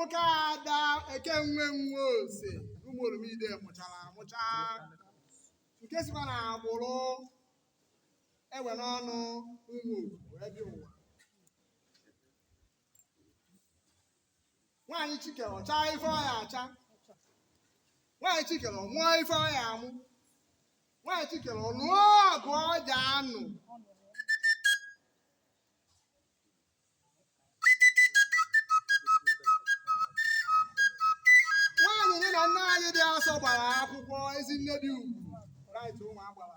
Ụka ada ekenwe nwe ose ụmụ oromide mụchara amụcha nke sikwa na agbụrụ ewe n'ọnụ ụmụ wee dị ụwa nwaanyị chi kere ọ chaa ife ọ ya-acha nwaanyị chi kere ọ mụọ ife ọ ya-amụ nwaanyị chi kere ọ nụọ ọgụ ọ ja-anụ nwaanyị nye na nne anyị dị asọ gbara akwụkwọ ezi nne dị ugwu right ụmụ agbara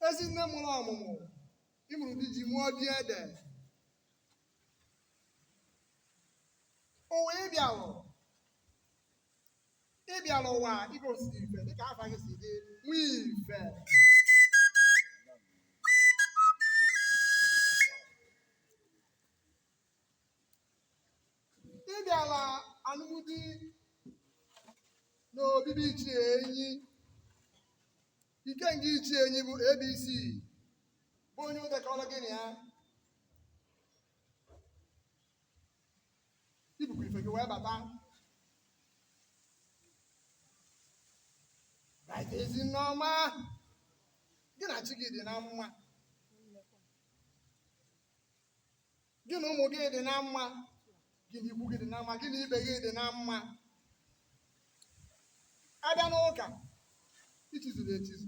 ezi nne mụrụ ọmụmụ ị mụrụ di ji mụọ di ede ụwa ị bịarụ ị bịara ụwa i gosi ife dịka afa gị si dị nwee ife ị bịara anụmdi na obi be ichie enyi Ikenga ichie enyi bụ abc bụ onye e dekọrọ gị na ya i bupụ ife gị wee bata right ezi nne ọma gị na chi gị dị na mma gị na ụmụ gị dị na mma gị na ikwu gị dị na mma gị na ibe gị dị na mma a bịa n'ụka i chizuru echizu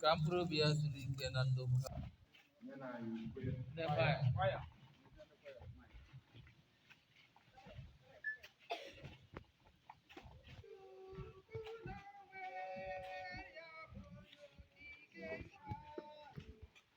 ka mkpụrụ obi ya zuru ike na ndokwa